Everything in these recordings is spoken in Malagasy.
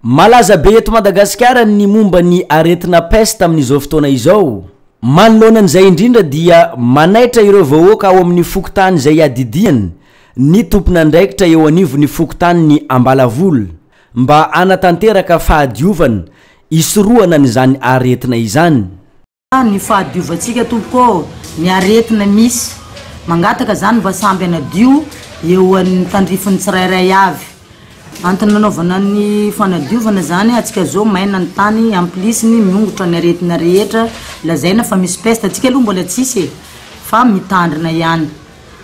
Malaza be eto Madagasikara ny momba ny aretina peste amin'izao fotoana izao. Manoloana an'izay indrindra dia manaitra ireo vahoaka ao amin'ny fokontany izay iadidiany ny tompon'andraikitra eo anivon'ny fokontanin'i Ambalavola mba hanatanteraka fahadiovana hisorohana an'izany aretina izany. ny fahadiovantsika tompoko ô, ny aretina misy, mangataka zany mba samby anadio eo an'ny tandrifin'ny tsirairay avy, antony nanaovana ny fanadiovana zany atsika zao maina ny tany en plus ny miongotra ny aretina rehetra lazaina fa misy peste atsika aloha mbola tsisy e fa mitandrina ihany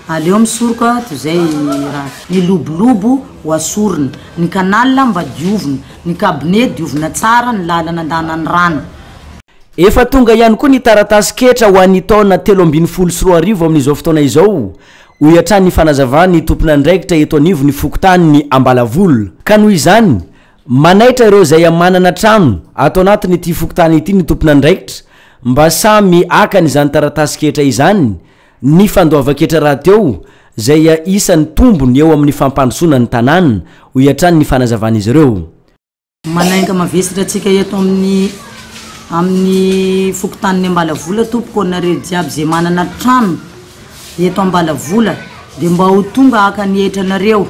aleo misoroka toy zay raha ny lobolobo ho asorina, ny canal mba diovina, ny cabinet diovina tsara ny lalana andanan'ny rano. Efa tonga ihany koa ny taratasin-ketra ho an'ny taona telo ambin'ny folo sy roa arivo amin'izao fotoana izao, hoy hatrany ny fanazavan'ny tompon'andraikitra eto anivon'ny fokontanin'i Ambalavola. Ka noho izany, manaitra ireo izay manana trano ato anatin'ity fokontany ity ny tompon'andraikitra mba samy akany izany taratasin-ketra izany ny fandoavan-ketra rahateo izay isan'ny tombony eo amin'ny fampandrosoana ny tanàna, hoy hatrany ny fanazavan'izy ireo. Manainga mavesatra antsika eto amin'ny amin'ny fokontanin'ny Ambalavola tompoko anareo jiaby izay manana trano eto Ambalavola dia mba ho tonga haka ny hetra anareo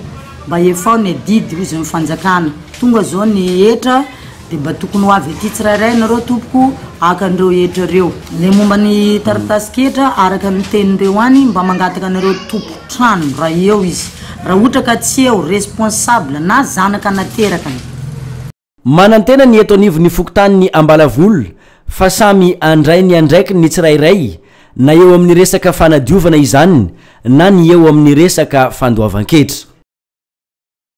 mba hefao ny adidy hozy ny fanjakana tonga zao ny hetra dia mba tokony ho avy aty tsirairay nareo tompoko haka an'ireo hetra ireo ilay momba ny taratasin-ketra araka ny tenin'ireo any mba mangataka anareo tompon-trano raha eo izy Raha ohatra ka tsy eo responsable na zanaka nateraka ny. Manantena ny eto anivon'ny fokontanin'i Ambalavola fa samy handray ny andraikiny ny tsirairay na eo amin'ny resaka fanadiovana izany na ny eo amin'ny resaka fandoavan-ketra.